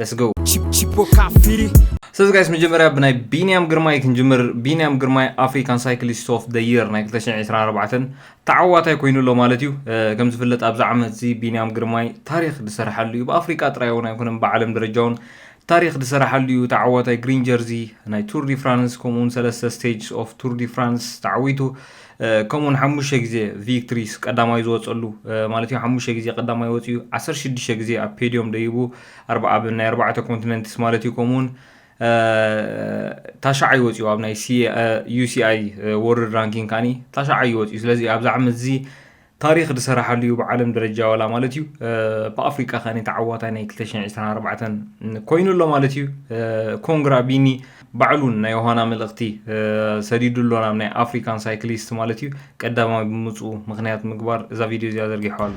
Let's go! ስለዚ ጋይስ መጀመርያ ብናይ ቢንያም ግርማይ ክንጅምር ቢንያም ግርማይ ኣፍሪካን ሳይክሊስት ኦፍ ደ የር ናይ 224 ተዓዋታይ ኮይኑ ኣሎ ማለት እዩ ከም ዝፍለጥ ኣብዚ ዓመት እዚ ቢንያም ግርማይ ታሪክ ዝሰራሓሉ እዩ ብኣፍሪካ ጥራይ እውን ኣይኮነን ብዓለም ደረጃ እውን ታሪክ ዝሰራሓሉ እዩ ተዓዋታይ ግሪን ጀርዚ ናይ ቱር ዲ ፍራንስ ከምኡውን ሰለስተ ስቴጅስ ኦፍ ቱር ዲ ፍራንስ ተዓዊቱ ከምኡ ውን ሓሙሽተ ግዜ ቪክትሪስ ቀዳማይ ዝወፀሉ ማለት እዩ ሓሙሽተ ግዜ ቀዳማይ ወፅዩ ዓሰርተ ሽዱሽተ ግዜ ኣብ ፔድዮም ደይቡ ኣብ ናይ ኣርባዕተ ኮንቲነንትስ ማለት እዩ ከምኡ ውን ታሻዓይ ወፅዩ ኣብ ናይ ዩሲኣይ ወርልድ ራንኪንግ ካኒ ታሻዓይ ወፅዩ ስለዚ ኣብዚ ዓመት እዚ ታሪኽ ዝሰራሓሉ ዩ ብዓለም ደረጃ ዋላ ማለት ዩ ብኣፍሪቃ ከኣ ተዓዋታይ ናይ ክልተ ሽሕን ዕስራን ኣርባዕተን ኮይኑ ኣሎ ማለት ዩ ኮንግራ ቢኒ ባዕሉ ውን ናይ ዮሃና መልእኽቲ ሰዲዱ ኣሎ ናብ ናይ ኣፍሪካን ሳይክሊስት ማለት ዩ ቀዳማይ ብምጽኡ ምኽንያት ምግባር እዛ ቪድዮ እዚኣ ዘርጊሖ ኣሎ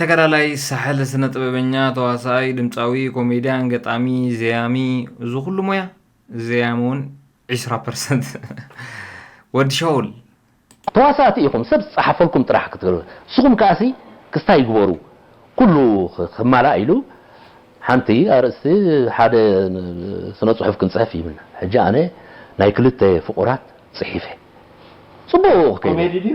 ተጋዳላይ ሳሕል ስነ ጥበበኛ ተዋሳኣይ ድምጻዊ ኮሜድያን ገጣሚ ዘያሚ እዚ ኩሉ ሞያ ዘያሚ እውን ዒስራ ፐርሰንት ወዲ ሻውል። ተዋሳእቲ ኢኹም ሰብ ዝጸሓፈልኩም ጥራሕ ክትገብሩ ንስኹም ከኣሲ ክስታይ ግበሩ ኩሉ ክማላእ ኢሉ ሓንቲ ኣርእስቲ ሓደ ስነ ጽሑፍ ክንጽሕፍ ይብልና ሕጂ ኣነ ናይ ክልተ ፍቑራት ጽሒፈ ጽቡቕ ክከይድ እየ። ኮሜዲ ድዩ?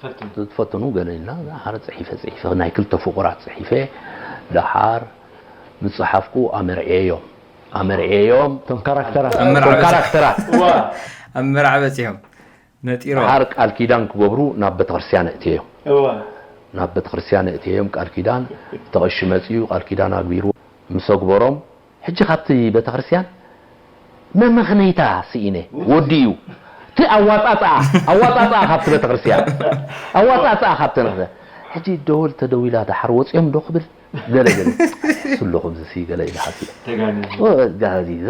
ፈትኑ። ትፈትኑ ገለ ኢልና ደሓር ጽሒፈ ጽሒፈ ናይ ክልተ ፍቑራት ጽሒፈ ደሓር ምስ ጸሓፍኩ ኣመርዕየዮም ኣመርዕየዮም እቶም ካራክተራት እቶም ካራክተራት። ኣብ መርዓ በጺሖም። ነጢሮም። ደሓር ቃል ኪዳን ክገብሩ ናብ ቤተክርስትያን ኣእትየዮም ናብ ቤተክርስትያን ኣእትየዮም ቃል ኪዳን እቲ ቀሺ መጺኡ ቃል ኪዳን ኣግቢሩ ምስ ኣግበሮም፣ ሕጂ ካብቲ ቤተክርስትያን መመኽነይታ ስኢነ ወዲ እዩ እቲ ኣዋጻጽኣ ኣዋጻጽኣ ካብቲ ቤተክርስትያን ኣዋጻጽኣ ካብቲ ነኽተ ሕጂ ደወል ተደዊላ ደሓር ወጽዮም ዶ ክብል ገለ ገለ እሱ ኣሎ ከምዚሲ ገለ ኢለ ሓሲበ ተጋኒኑ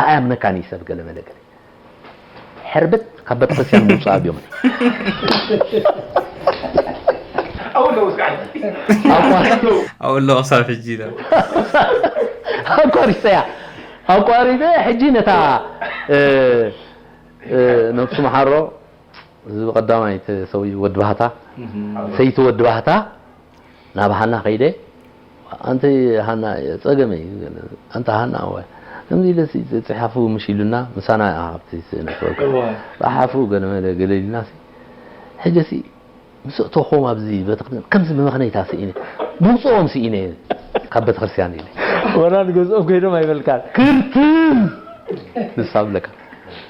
ኣኣምነካን እዩ ሰብ ገለ መለ ገለ ሕርብት ካብ በተክርስቲያን ምውጻኣ ድዮም ኣቋሪጸያ ኣቋሪጸ ሕጂ ነታ ነብሱ መሓሮ እዚ ቀዳማይ ሰውዩ ወዲ ባህታ ሰይቲ ወዲ ባህታ ናብ ሃና ከይደ ኣንቲ ሃና ጸገመ እዩ ኣንቲ ሃና እወ ከምዚ ኢለ ጽሓፉ ምሽ ኢሉና ምሳና ኣብቲ ስእሊ ጸሓፉ ገለ መለ ገለ ኢልና ሕጂ ምስ እተኹም ኣብዚ ቤተክርስትያን ከምዚ ብመኽነይታ ስኢነ ምውጽኦም ስኢነ ካብ ቤተክርስትያን ኢለ ወላ ንገዝኦም ከይዶም ኣይበልካን ክርትም ንሳ ብለካ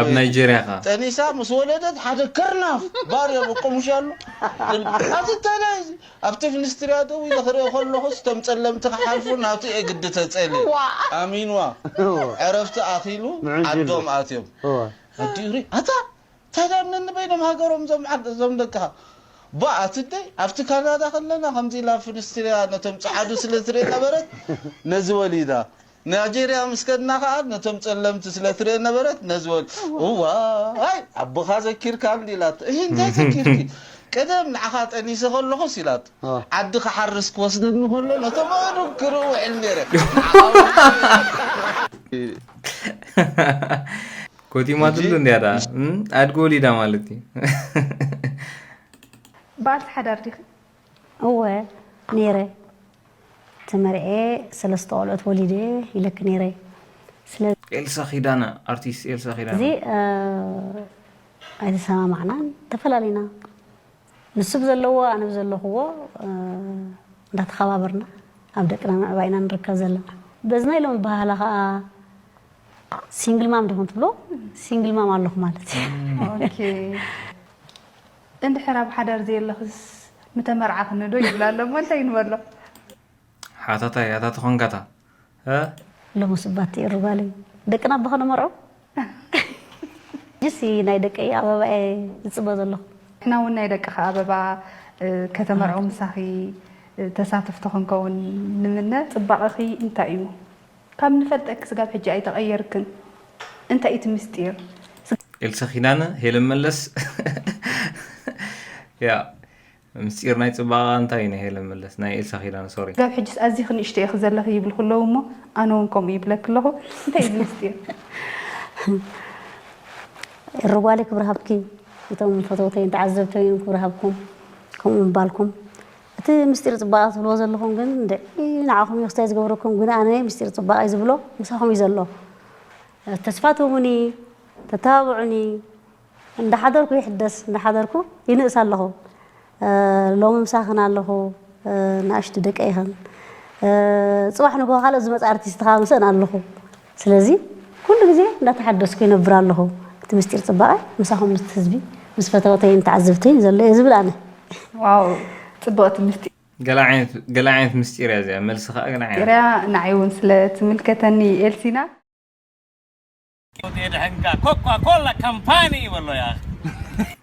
ኣብ ናይጀርያ ከኣ። ጠኒሳ ምስ ወለደት ሓደ ክርናፍ ባርዮ በቆሙሻሉ ኣዚ ተለይ እዚ ኣብቲ ምኒስትርያ ደው ኢለ ክርኢ ከለኩስ እቶም ጸለምቲ ክሓልፉ ናቱ እየ ግዲ ተጸልየ ኣሚንዋ ዕረፍቲ ኣኪሉ ዓዶም ኣትዮም ወዲኡ ሪኡ ኣታ እንታይ ድኣ ነንበይኖም ሃገሮም እዞም ደቅካ ባእ ኣቲ ደይ ኣብቲ ካናዳ ከለና ከምዚ ኢላ ኣብ ፍኒስትርያ ነቶም ጸዓዱ ስለ ትርኢ ነበረት ነዚ ወሊዳ ናይጀርያ ምስ ከድና ከኣ ነቶም ጸለምቲ ስለ ትርኤ ነበረት ነዚ ወዲ እዋይ ኣቦኻ ዘኪርካ እንዲ ኢላቶ እሂ እንታይ ዘኪርኪ ቀደም ንዓኻ ጠኒሰ ከለኹስ ኢላቶ ዓዲ ክሓርስ ክወስደኒ ከሎ ነቶም ኣእዱግ ክርኢ ውዕል ነይረ ኮቲማትሉ እንዲያ ደኣ ኣድጊ ወሊዳ ማለት እዩ ባልቲ ሓዳር ዲኺ እወ ነይረ ተመርዕየ ሰለስተ ቆልዑት ወሊደ ኢለኪ ነይረ ስለ ኤልሳ ኪዳነ ኣርቲስት ኤልሳ ኪዳነ እዚ ኣይተሰማማዕናን ተፈላለና ንሱ ብዘለዎ ኣነ ብዘለኹዎ እንዳተኸባበርና ኣብ ደቅና ምዕባይ ኢና ንርከብ ዘለና በዚ ናይ ሎም ባህላ ከዓ ሲንግል ማም ዲኹም ትብሎ ሲንግል ማም ኣለኹ ማለት እዩ እንድሕር ኣብ ሓዳር ዘየለኽስ ምተመርዓኽኒ ዶ ይብል ኣሎ እሞ እንታይ ንበሎ። ሓታታይ ኣታ ተኾንካታ እ። ሎሚ ስባት ትእሪ ጓለይ ደቅና እባ ከነመርዖ ሕጂሲ ናይ ደቀይ ኣበባ እየ ዝጽበ ዘለኹ። ንሕና ውን ናይ ደቅኺ ኣበባ ከተመርዑ ምሳኺ ተሳተፍቲ ክንከውን ንምነ። ጽባቐኺ እንታይ እዩ ካብ ንፈልጠኪ ክስጋብ ሕጂ ኣይተቀየርክን እንታይ እዩ እቲ ምስጢር። ኤልሳ ኪዳነ ሄለን መለስ ያእ ምስጢር ናይ ጽባቀ እንታይ ናይ ሄለን መለስ ናይ ኤልሳ ኪዳነ ሶሪ። ክሳብ ሕጂስ ኣዚኺ ንእሽቶ ኢኺ ዘለኺ ይብሉ ክለዉ እሞ ኣነ ውን ከምኡ ይብለኪ ኣለኹ እንታይ እዩ ምስጢር። ኤሪ ጓለይ ክብሪ ሃብኪ እቶም ፈተውተይን ተዓዘብተይን ክብሪ ሃብኩም ከምኡ ምባልኩም እቲ ምስጢር ጽባቀ ትብልዎ ዘለኹም ግን እንድዒ ንዓኹም እዩ ክስታይ ዝገብረኩም ግን ኣነ ምስጢር ጽባቀ እዩ ዝብሎ ምሳኹም እዩ ዘሎ ተስፋ ትህቡኒ ተተባብዑኒ እንዳሓደርኩ ይሕደስ እንዳሓደርኩ ይንእስ ኣለኹ ሎሚ ምሳኽን ኣለኹ ንኣሽቱ ደቀይኽን ጽባሕ ንግሆ ካልኦት ዝመጽ ኣርቲስት ክኣ ምሰን ኣለኹ ስለዚ ኩሉ ግዜ እንዳተሓደስኩ ይነብር ኣለኹ። እቲ ምስጢር ጽባቐ ምሳኹም ምስ ህዝቢ፣ ምስ ፈተውተይን ተዓዘብተይን ዘሎ እየ ዝብል ኣነ። ዋው ጽብቕቲ ምስጢር። ገለ ዓይነት ምስጢር እያ እዚኣ መልሲ ከኣ ገለ ዓይነት። ምስጢር እያ ንዓይ ውን ስለ ትምልከተኒ ኤልሲና። ፎቶ የድሕንካ ኮኳ ኮላ ካምፓኒ በሎ ያኣኺ።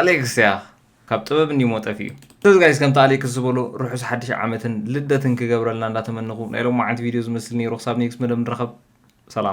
ኣሌክስ ያኽ ካብ ጥበብ እንዲሞ ጠፊኡ። ስለዚ ጋይስ ከምቲ ኣሌክስ ዝበሎ ርሑስ ሓድሽ ዓመትን ልደትን ክገብረልና እንዳተመነኹ ናይ ሎማዓንቲ ቪድዮ ዝመስል ነይሩ ክሳብ ኔክስት መደብ ንራኸብ ሰላም።